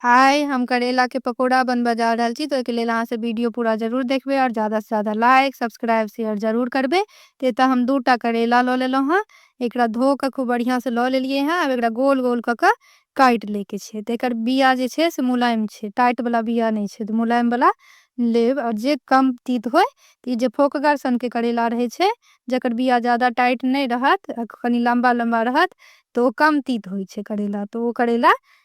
हाय हम करेला के पकोड़ा बनबऽ जा रहल छी तऽ ओहिके लेल अहाँ सब वीडियो पूरा जरूर देखबै आओर ज्यादा से ज्यादा लाइक सब्सक्राइब शेयर जरूर करबै तऽ एतऽ हम दू टा करेला लऽ लेलहुँ हँ एकरा धो कऽ खूब बढ़िआँ से लऽ लेलियै हँ आब एकरा गोल गोल कऽ कऽ काटि लैके छै तऽ एकर बिया जे छै से मुलायम छै टाइट बला बिया नहि छै तऽ मुलायम बला लेब आओर जे कम तीत होइ तऽ ई जे फोकगर सनके करेला रहै छै जकर बिया ज्यादा टाइट नहि रहत आ कनि लम्बा लम्बा रहत तऽ ओ कम तीत होइ छै करेला तऽ ओ करेला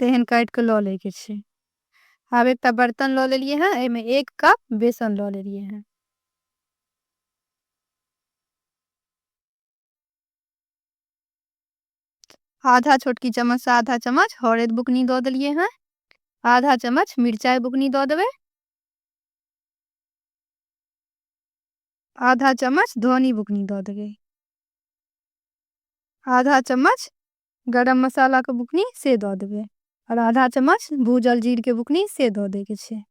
तेहन काटि कऽ लऽ लैके छै आब एकटा बर्तन लऽ लेलियै हेँ एहिमे एक कप बेसन लऽ लेलियै हेँ आधा छोटकी चम्मचसँ आधा चम्मच हरैद बुकनी दऽ देलियै हेँ आधा चम्मच मिरचाइ बुकनी दऽ देबै आधा चम्मच धनी बुकनी दऽ देबै आधा चम्मच गरम मसाला के बुकनी से द देबे और आधा चम्मच भूजल जीर के बुकनी से द दे के छे।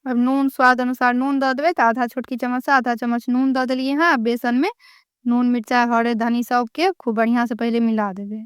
अब नून स्वाद अनुसार नून द देवे तो आधा छोटकी चम्मच से आधा चम्मच नून द दिलिए हैं अब बेसन में नून मिर्चा हरे धनी सब के खूब बढ़िया से पहले मिला देवे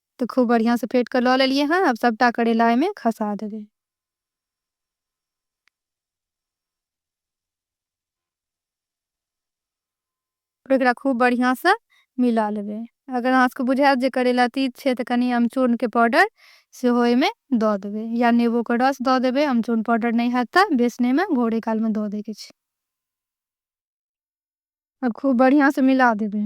तऽ खूब बढ़ियाँ सँ फेट कऽ लऽ लेलियै हँ आब सभटा करैला एहिमे खसा देबै। एकरा खूब बढ़ियाँ सँ मिला लेबै अगर अहाँ सभके बुझायत जे करैला तीत छै तऽ कनि अमचूर के पाउडर सेहो एहिमे दऽ देबै या नेबो के रस दऽ देबै अमचूर पाउडर नहि हैत तऽ बेसने मे घोरे काल मे दऽ दै के छै। आब खूब बढ़ियाँ सँ मिला देबै।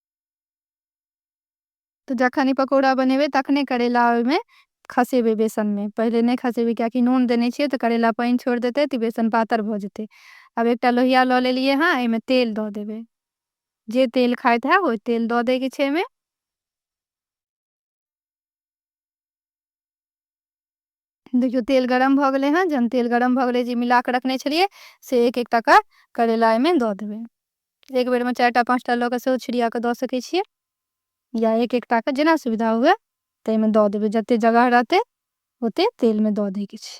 तो जखन ई पकौड़ा बनेबे तखने करेला ओहि में खसेबे बेसन में पहले नहीं खसेबे क्या कि नून देने छे तो करेला पानी छोड़ देते तो बेसन पातर भ जते अब एक लोहिया लो ले लिए हाँ एमें तेल दो देवे जे तेल खाए था वो तेल दो दे के छे में देखियौ तेल गरम भऽ गेलै हँ जहन तेल गरम भऽ गेलै जे मिला कऽ रखने छलियै से एक एकटा कऽ करैला एहिमे दऽ देबै एक बेरमे चारि टा पाँच टा लऽ कऽ सेहो छिड़िया कऽ दऽ सकै छियै या एक एकटा कऽ जेना सुविधा हुए ताहिमे दऽ देबै जतेक जगह रहतै ओतेक तेलमे दऽ दैके छै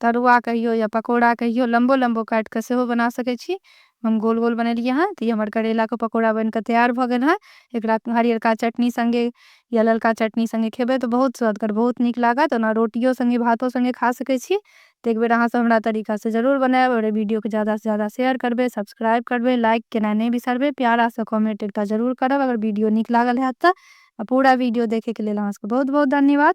तरुआ कहियो या पकौड़ा कहियो लम्बो लम्बो काट के सेहो बना सके छी हम गोल गोल बनेलिए हैं तो ये हमारे करेला के पकौड़ा बन के तैयार भ गेल है एकरा हरियरका चटनी संगे या ललका चटनी संगे खेबे तो बहुत स्वादगर बहुत निक लागत ओना रोटियों संगे भातों संगे खा सके छी तो एक बेर अहाँ सब हमरा तरीका से जरूर बनाएब और वीडियो के ज्यादा से ज्यादा शेयर करबे सब्सक्राइब करबे लाइक केना नहीं बिसरबे प्यारा सा कमेंट एकटा जरूर करब अगर वीडियो निक लागल है तो। आ पूरा वीडियो देखे के लेल अहाँ सबके बहुत बहुत धन्यवाद